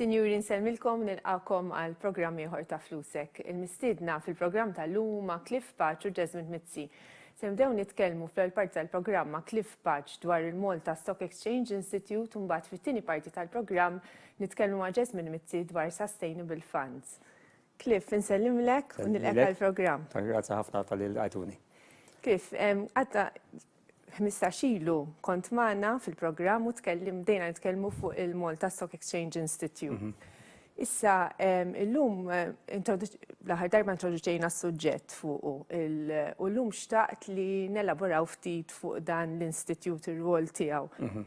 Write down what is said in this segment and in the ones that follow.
Sinjuri nsellmilkom nilqakom għal programm ieħor ta' Flusek. Il-mistiedna fil-programm tal-lum huma Cliff Paċ u Jasmine Mizzi. Se nibdew nitkellmu fl-ewwel parti tal-programm ma' Cliff Paċ dwar il-Malta Stock Exchange Institute u mbagħad fit-tieni parti tal-programm nitkellmu ma' Jasmine Mizzi dwar Sustainable Funds. Cliff, insellimlek u nilqek għall-programm. Grazzi ħafna tal-li l-għajtuni. Cliff, għadda 15 ilu kont magħna fil-programm u tkellim dejna nitkellmu fuq il-Malta Stock Exchange Institute. Mhm. Issa, illum, l-aħħar darba introduċejna s-suġġett fuq u llum xtaqt li nelaboraw ftit fuq dan l-Institute, ir-rwol tiegħu. Mhm.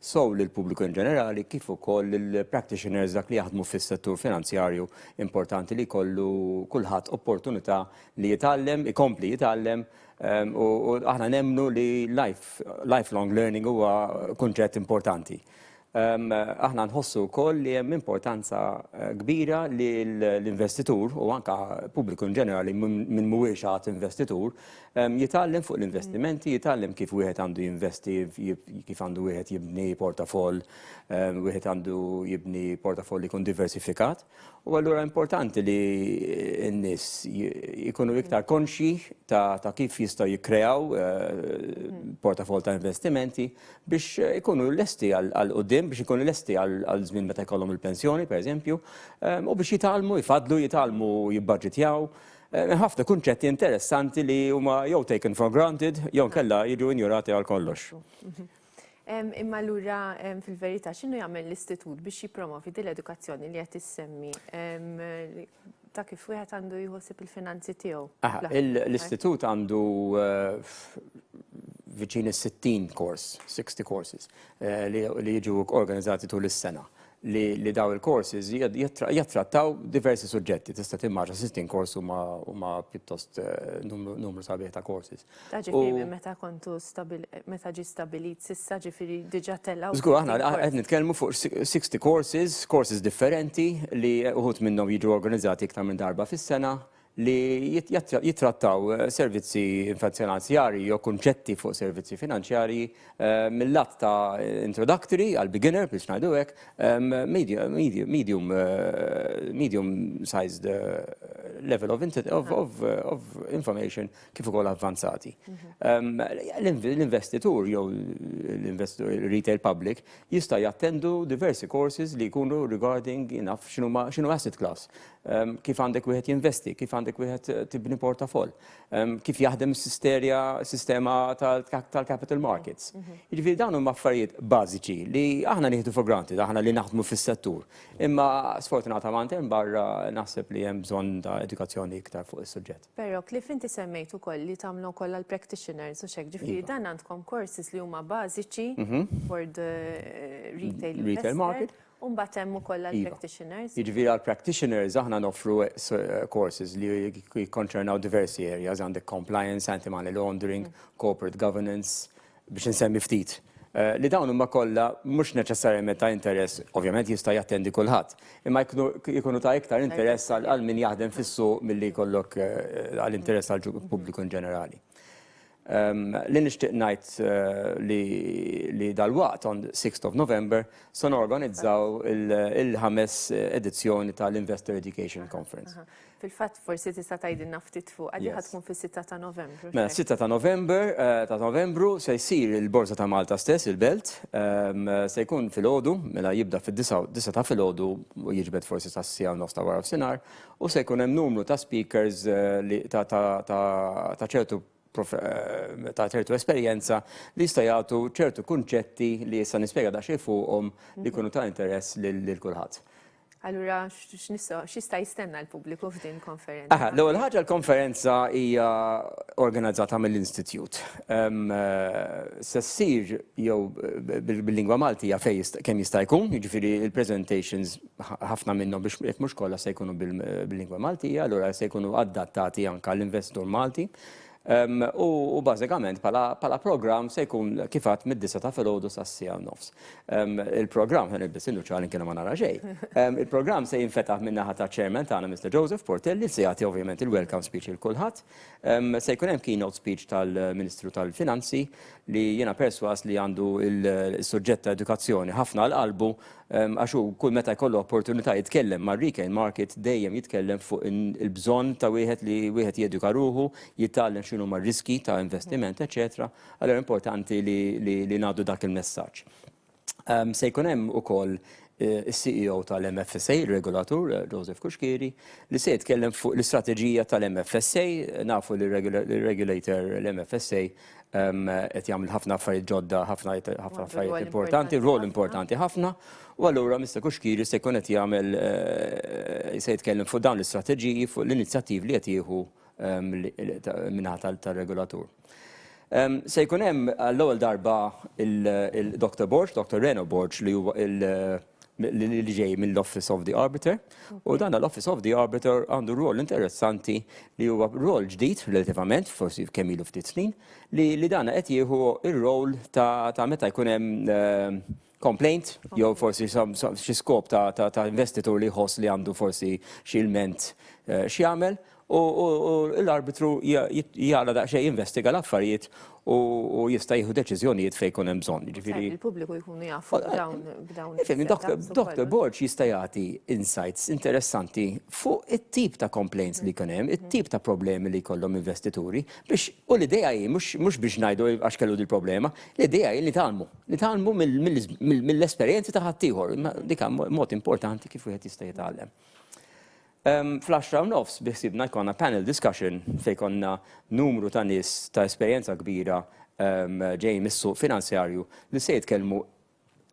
sew lill-pubbliku inġenerali kif ukoll lill-practitioners dak li jaħdmu fis-settur finanzjarju importanti li jkollu kulħadd opportunità li jitgħallem, ikompli jitgħallem u aħna nemmnu li lifelong learning huwa kunċett importanti. Aħna nħossu wkoll li hemm importanza kbira li l-investitur u anke pubbliku inġenerali min mhuwiex għad investitur Jitgħallem fuq l-investimenti, jitgħallem kif wieħed għandu jinvesti, kif għandu wieħed jibni portafoll, wieħed għandu jibni portafoll li jkun diversifikat. U allura importanti li n-nies jkunu iktar konxji ta' kif jistgħu jikkreaw portafoll ta' investimenti biex ikunu lesti għal quddiem, biex ikunu lesti għal żmien meta jkollhom il-pensjoni, pereżempju, u biex jitgħallmu, jfaddlu, jitgħallmu jibbaġitjaw. Hemm ħafna kunċetti interessanti li huma jew taken for granted jew inkella jiġu injorati għal kollox. Imma allura fil-verità x'inhu jagħmel l-istitut biex jippromovi din l-edukazzjoni li qed issemmi ta' kif wieħed għandu jħossib il-finanzi tiegħu? L-istitut għandu viċin is-60 kors, 60 courses, li jiġu organizzati tul is-sena. li li dawn il-courses jattrattaw diversi suġġetti, tista' timmaġa 60 kors huma pjuttost numru sabiħ ta' courses. Ġifieri meta kontu meta ġi stabilit s'issa ġifieri diġà telgħu. Żgur aħna qed nitkellmu fuq 60 courses, courses differenti li uħud minnhom jiġu organizzati iktar minn darba fis-sena, li jittrattaw servizzi finanzjarji jew kunċetti fuq servizzi finanzjarji mill-lat ta' introductory għal beginner biex ngħidu hekk, medium, medium sized level of information kif ukoll avvanzati. L-investitur jew l-retail public jista' jattendu diversi courses li jkunu regarding naf x'inhuma x'inhu asset class, kif għandek wieħed jinvesti, kif għandek wieħed tibni portafoll, kif jaħdem sistema tal-capital markets. Mhm. Jiġifieri dawn huma affarijiet bażiċi li aħna nieħdu for granted aħna li naħdmu fis-settur. Imma sfortunatament hemm barra naħseb li hemm bżonn ta' edukazzjoni iktar fuq is-suġġett. Però Cliff inti semmejt ukoll li tagħmlu wkoll għall-practitioners u x'hekk ġifieri iva. dan għandkom courses li huma bażiċi mhm. for the eh, retail market. U mbagħad hemm ukoll għall-practitioners? Iva. Jiġifieri għall-practitioners aħna noffru courses li jikkonċernaw diversi areas, għandek compliance, anti-money laundering, corporate governance, biex insemmi ftit. Li dawn huma kollha mhux neċessarjament ta' interess, ovvjament jista' jattendi kulħadd, imma jkunu ta' iktar interess għal min jaħdem fis-suq milli jkollok għall-interess tal-pubbliku in ġenerali. Li nixtieq ngħid li dalwaqt on sixth of November se norganizzaw il-ħames edizzjoni tal-Investor Education Conference. Fil-fatt forsi tista' tgħidilna ftit fuqha li ħatkun fis-sitta ta' Novembru. Mela s-sitta ta' November ta' Novembru se jsir il-Borża ta' Malta stess, il-Belt. Se jkun filgħodu, mela jibda fid-disgħa, disgħa ta' filgħodu u jiġbed forsi sas-siegħa u nofs ta' warafsinhar U se jkun hemm numru ta' speakers li ta' ta' ta' ta' ċertu prof- eh, ta' ċertu esperjenza li jista' jagħtu ċertu kunċetti li issa nispjega daqsxejn fuqhom li jkunu ta' interess lil lil kulħadd. Allura x- x'nistgħu x'jista' jistenna l-pubbliku f'din konferenza? Aha, l-ewwel ħaġa l-konferenza hija organizzata mill-Institjut. Ehm, eh, Se ssir jew b- bil- bil-lingwa Maltija fejn jista' kemm jista' jkun, jiġifieri l-presentations ħafna minnhom biex jekk mhux kollha se jkunu bil-lingwa Maltija, allura se jkunu adattati anke għall-investitur Malti. Ehm, u bażikament bħala programm se jkun kif għad mid-disa ta' filgħodu sas-sija nofs. Ehm, il-programm ħen il-biss innu ċalin kienu ma nara xejn. Ehm, il-programm se jinfetaħ minn naħa ta' chairman tagħna Mr. Joseph Portelli se jagħti ovvjament il-welcome speech il kulħadd. Se jkun hemm keynote speech tal-Ministru tal-Finanzi li jiena perswas li għandu il-suġġett ta' edukazzjoni ħafna għal qalbu Għax hu kull meta jkollu opportunità jitkellem mar-retail market dejjem jitkellem fuq il-bżonn ta' wieħed li wieħed jeduka ruħu, jitgħallem x'inhuma r-riskji ta' investiment, eċċetera. Allura importanti li ngħaddu dak il-messaġġ. Se jkun hemm ukoll is-CEO tal-MFSA, ir-regolatur, Joseph Cuschieri, li se jitkellem fuq l-istrateġija tal-MFSA. Nafu li r-regulator, l-MFSA, qed jagħmel ħafna affarijiet ġodda, ħafna ħafna affarijiet importanti, rol importanti ħafna, u allura Mr. Kuxkiri se jkun qed jagħmel eh, se jitkellem fuq dawn l-istrateġiji fuq l-inizjattivi li qed jieħu minħata tal-regolatur. Se jkun hemm għall-ewwel darba il-Dr. Borg, Dr. Reno Borg li huwa li ġej mill-Office of the Arbiter u dan l-Office of the Arbiter għandu rol interessanti li huwa rol ġdid relativament, forsi kemm ilu ftit snin, li, li dan qed jieħu ir-rol ta', ta meta jkun hemm eh, complaint jew forsi xi skop ta', ta, ta investitur li jħoss li għandu forsi xi ilment eh, x'jagħmel U l-arbitru jaqla' daqsxejn jinvestiga l-affarijiet u jista' jieħu deċiżjonijiet fejn jkun hemm bżonn. Jiġifieri il-pubbliku jkunu jafu b'dawn il-setups. Dr. Borg jista' jagħti insights interessanti fuq it-tip ta' complaints li jkun hemm, it-tip ta' problemi li jkollhom investituri biex, u l-idea hi mhux biex ngħidu għax kellu dil-problema, l-idea hi nitgħallmu. Nitgħallmu mill-esperjenzi ta' ħaddieħor. Dik mod importanti kif wieħed jista' jitgħallem. Fl-għaxra u nofs biħsiebna jkollna panel discussion fejn jkollna numru ta' nies ta' esperjenza kbira ġejjin mis-suq finanzjarju li se jitkellmu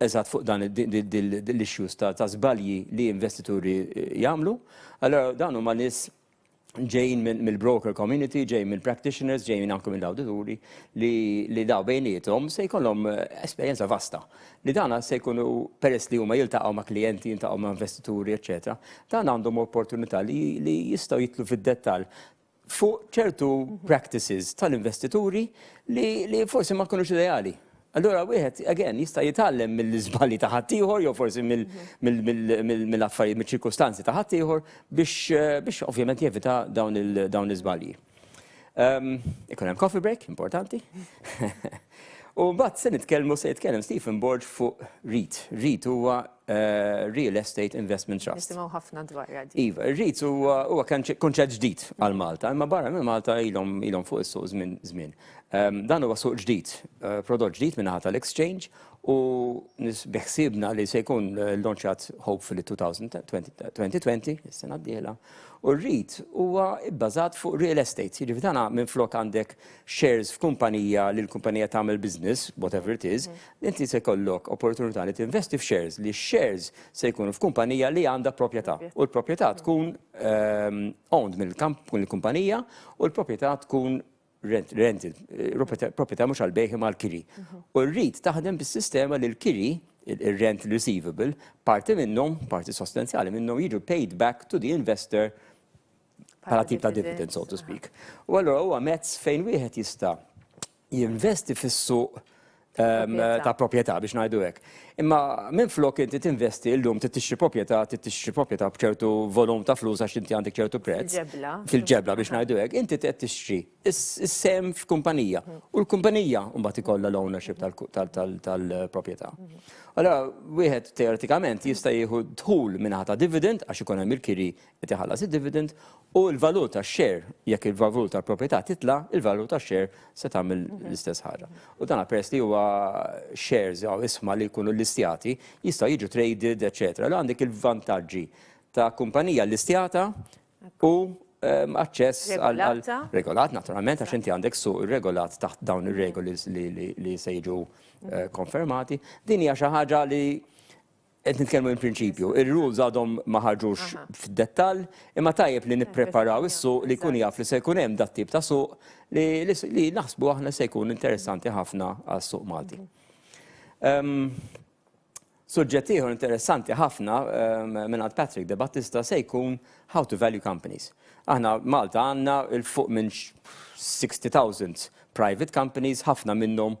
eżatt fuq dan l-issues ta' żbalji li investituri jagħmlu. Allura dawn huma nies ġejjin mill-broker community, ġejjin mill-practitioners, ġejjin anke mill-awdituri li dawn bejniethom se jkollhom esperjenza vasta. li dana se jkunu peress li huma jiltaqgħu ma' klijenti, jiltaqgħu ma' investituri, eċetera, dan għandhom opportunità li, li jistgħu jitlu fid-dettall fuq ċertu practices tal-investituri li, li forsi ma jkunux ideali. Allura wieħed, again, jista' jitgħallem mill-iżbali ta' ħaddieħor jew forsi mill-affarijiet, mill-ċirkustanzi ta' ħaddieħor biex, biex ovvjament jevita dawn l-iżbalji. Ehm, ikun hemm coffee break, importanti. U mbagħad se nitkellmu se jitkellem Stephen Borg fuq REIT. REIT huwa eh, Real Estate Investment Trust. Nisimgħu ħafna dwar għadi. Iva, REIT huwa huwa kunċett ġdid għal Malta, imma barra minn Malta ilhom ilhom fuq is-suq żmien żmien. Ehm, dan huwa suq ġdid, eh, prodott ġdid minn ħata l-exchange u biħsibna li se jkun eh, launchjat hopefully 2020, is-sena d-dieħla, U r-REIT huwa bbażat fuq real estate, jiġifieri dan minflok għandek shares f'kumpanija li l-kumpanija tagħmel business, whatever it is, inti se jkollok opportunità li tinvesti f'shares, li x-shares se jkunu f'kumpanija li għandha proprjetà. U l-proprjetà tkun owned mill-kumpanija u l-proprjetà tkun rent, rent proprjetà mhux għal bejħi mal kiri. Mhm. U rrid taħdem bis-sistema li l-kiri, il-rent receivable, parti minnhom, parti sostanzjali minnhom jiġu paid back to the investor bħala tip ta' dividend, so to speak. U allura huwa mezz fejn wieħed jista' jinvesti fis-suq ta' proprjetà biex ngħidu hekk. Imma minflok inti tinvesti llum trid tixtri proprjetà, trid tixtri proprjetà b'ċertu volum ta' flus għax inti għandek ċertu prezz. Fil-ġebla biex ngħidu hekk, inti qed tixtri s-sehem f'kumpanija u l-kumpanija mbagħad ikollha l-ownership tal-proprjetà. Allura wieħed teoretikament jista' jieħu dħul mingħata dividend għax ikun hemm il-kiri qed iħallas id-dividend, u l-valur tax-share, jekk il-valur tal-proprjetà titla', il-valur tax-share se tagħmel l-istess ħaġa. U dan peress li huwa shares jew isma li jkunu listjati, jistgħu jiġu traded, eċċetera. Allura għandek il-vantaġġi ta' kumpanija listjata u aċċess għal regolat, naturalment, għax inti għandek suq irregolat taħt dawn ir-regoli li se jiġu konfermati. Din hija xi ħaġa li Qed nitkellmu in prinċipju. Ir-rules għadhom ma ħarġux f'dettall, imma tajjeb li nippreparaw is-suq li jkun jaf li se jkun hemm dat-tip ta' suq li li naħsbu aħna li se jkun interessanti ħafna għas-suq Malti. Suġġett ieħor interessanti ħafna mingħand Patrick Debattista se jkun how to value companies. Aħna Malta għandna 'l fuq minn 60,000 private companies, ħafna minnhom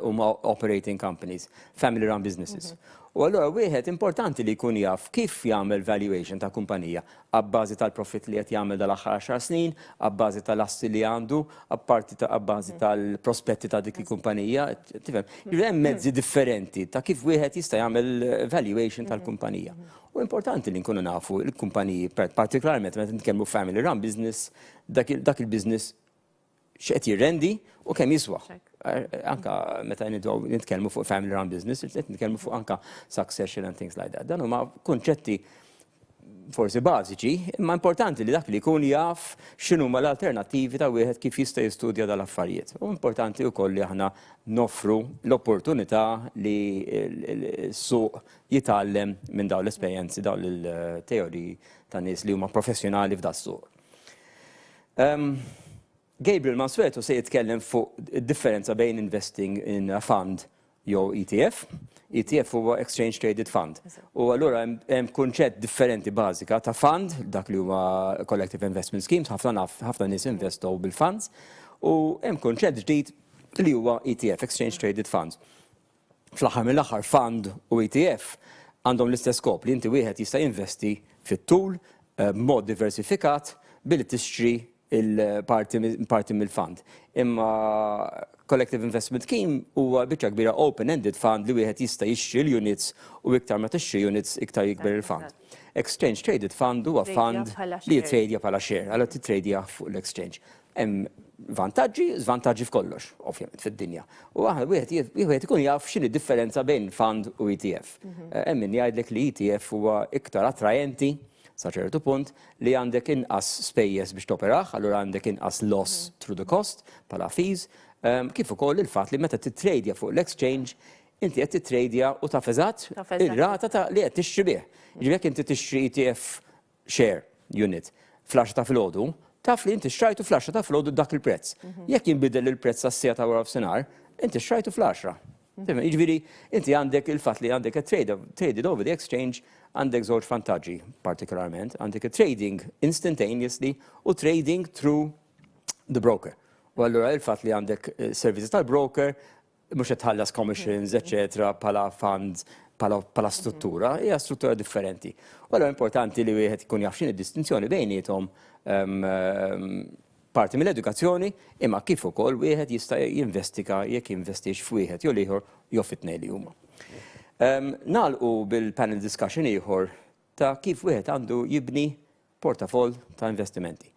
huma operating companies, family run businesses. U allura wieħed importanti li jkun jaf kif jagħmel valuation ta' kumpanija abbażi tal-profitt li qed jagħmel dal-aħħar għaxar snin, abbażi tal-assi li għandu, apparti ta' abbażi tal-prospetti ta' dik il-kumpanija, tifhem. Hemm mezzi differenti ta' kif wieħed jista' jagħmel valuation tal-kumpanija. U importanti li nkunu nafu l-kumpaniji, partikolarment meta nitkellmu family run business, dak il-business x'qed jirrendi u kemm jiswa. Anka meta nidgħu nitkellmu fuq family run business, qed nitkellmu fuq anka succession and things like that. Dan huma kunċetti forsi bażiċi, imma importanti li dak li jkun jaf x'inhuma l-alternattivi ta' wieħed kif jista' jistudja dal-affarijiet. U importanti wkoll li aħna noffru l-opportunità li s-suq jitgħallem minn dawn l-esperjenzi, dawn il-teoriji ta' nies li huma professjonali f'das-suq. Gabriel Mansueto se jitkellem fuq differenza bejn investing in a fund jew ETF. ETF huwa Exchange Traded Fund. U allura hemm kunċett differenti bażika ta' fund, dak li huwa Collective Investment Schemes, ħafna nies investow bil-funds, u hemm kunċett ġdid li huwa ETF, Exchange Traded Funds. Fl-aħħar mill-aħħar fund u ETF għandhom l-istess skop li inti wieħed jista' jinvesti fit-tul b'mod diversifikat billi tixtri l-parti mill-fund. Imma Collective Investment Scheme huwa biċċa kbira open-ended fund li wieħed jista' jixtri l-units u iktar ma tixtri units iktar jikber il-fund. Exchange Traded Fund huwa fund li jittrejdja bħala share, allura tittrejdjah fuq l-exchange. Hemm vantaġġi, żvantaġġi f'kollox, ovvjament, fid-dinja. U aħna wieħed wieħed ikun jaf x'inhi differenza bejn fund u ETF. Mhm. Eh, hemm min jgħidlek li ETF huwa iktar attraenti sa ċertu punt li għandek inqas spejjeż biex toperaħ, allura għandek inqas loss mhm. through the cost bħala fees, ehm, kif ukoll il-fatt li meta titradja fuq l-exchange inti qed titradja u taf eżatt ir-rata ta' li qed tixtri bih. Ġifieri inti tixtri ETF share unit fl-għaxra ta' filgħodu, taf li inti xtrajtu fl-għaxra ta' filgħodu b'dak il-prezz. Mhm. Jekk jinbidel il-prezz għas-siegħa ta' wara f'sinar, inti xtrajtu fl-għaxra. Mhm. Jiġifieri inti għandek il-fatt li għandek traded over the exchange għandek żewġ vantaġġi partikolarment, għandek trading instantaneously u trading through the broker. U allura il-fatt li għandek eh, servizzi tal-broker mhux qed tħallas commissions, eċetera, bħala fund, bħala struttura, hija struttura differenti. U allura importanti li wieħed ikun jaf x'inhi d-distinzjoni bejniethom parti mill-edukazzjoni, imma kif ukoll wieħed jista' jinvestiga jekk jinvestix f'wieħed jew l-ieħor jew fit-tnejn li huma. Nagħlqu bil-panel discussion ieħor ta' kif wieħed għandu jibni portafoll ta' investimenti.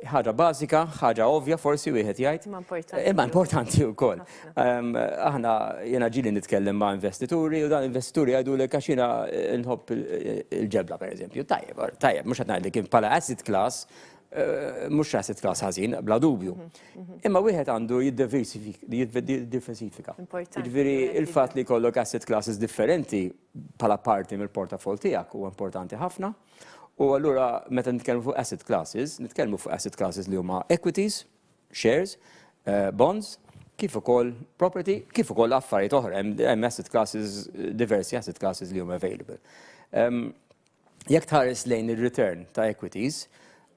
Ħaġa bażika, ħaġa ovvja forsi wieħed jgħid. Imma importanti. Imma importanti wkoll. Ehm, aħna jiena ġili nitkellem ma' investituri u dan investituri jgħidu li għax jiena eh, nħobb il-ġebla pereżempju. Tajjeb, tajjeb, mhux qed ngħid li kien bħala asset class, eh, mhux asset class ħażin, bla dubju. Mhm, mhm. Imma wieħed għandu jiddiversifika. Jiġifieri il-fatt li jkollok asset classes differenti bħala parti mill-portafol tiegħek huwa importanti ħafna. U allura meta nitkellmu fuq asset classes, nitkellmu fuq asset classes li huma equities, shares, eh, bonds, kif ukoll property, kif ukoll affarijiet oħra, hemm asset classes, diversi asset classes li huma available. Ehm, jekk tħares lejn ir-return ta' equities,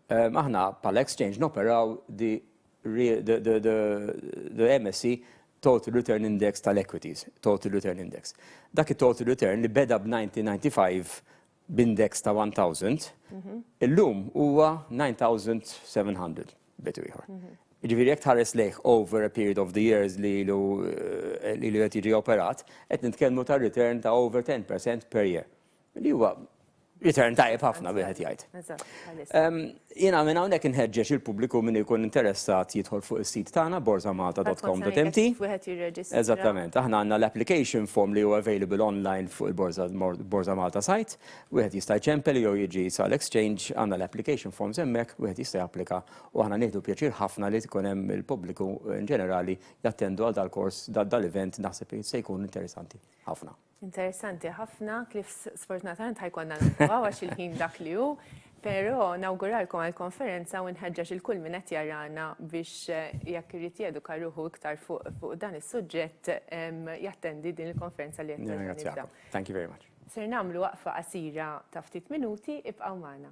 ehm, aħna pal exchange noperaw di the MSC Total Return Index tal-Equities, Total Return Index. Dak it-Total Return li beda b'1995 b'index ta' 1,000, illum huwa 9,700 b'etu ieħor. Jiġifieri jekk tħares lejh over a period of the years li ilu li ilu qed jiġi operat, qed nitkellmu ta' return ta' over 10% per year. Li huwa return tajjeb ħafna wieħed jgħid. Eżatt, bħalissa. Jiena minn hawnhekk inħeġġeġ il-pubbliku min ikun interessat jidħol fuq is-sit tagħna borzamalta.com.mt. Eżattament. Aħna għandna l-application form li hu available online fuq il-Borża Malta site. Wieħed jista' jċempel jew jiġi sal-exchange, għandna l-application forms hemmhekk, wieħed jista' japplika u aħna nieħdu pjaċir ħafna li tkun hemm il-pubbliku inġenerali jattendu għal dal-kors, dal-event naħseb li se jkun interessanti ħafna. Interessanti ħafna, kif sfortunatament ħajkonna naqtaw għax il-ħin dak li hu, però nawguralkom għall-konferenza u nħeġġeġ il kull min qed jarana biex eh, jekk irid jeduka ruħu iktar fuq dan is-suġġett jattendi din il-konferenza li qed Thank you very much. Ser nagħmlu waqfa qasira ta' ftit minuti ibqgħu magħna.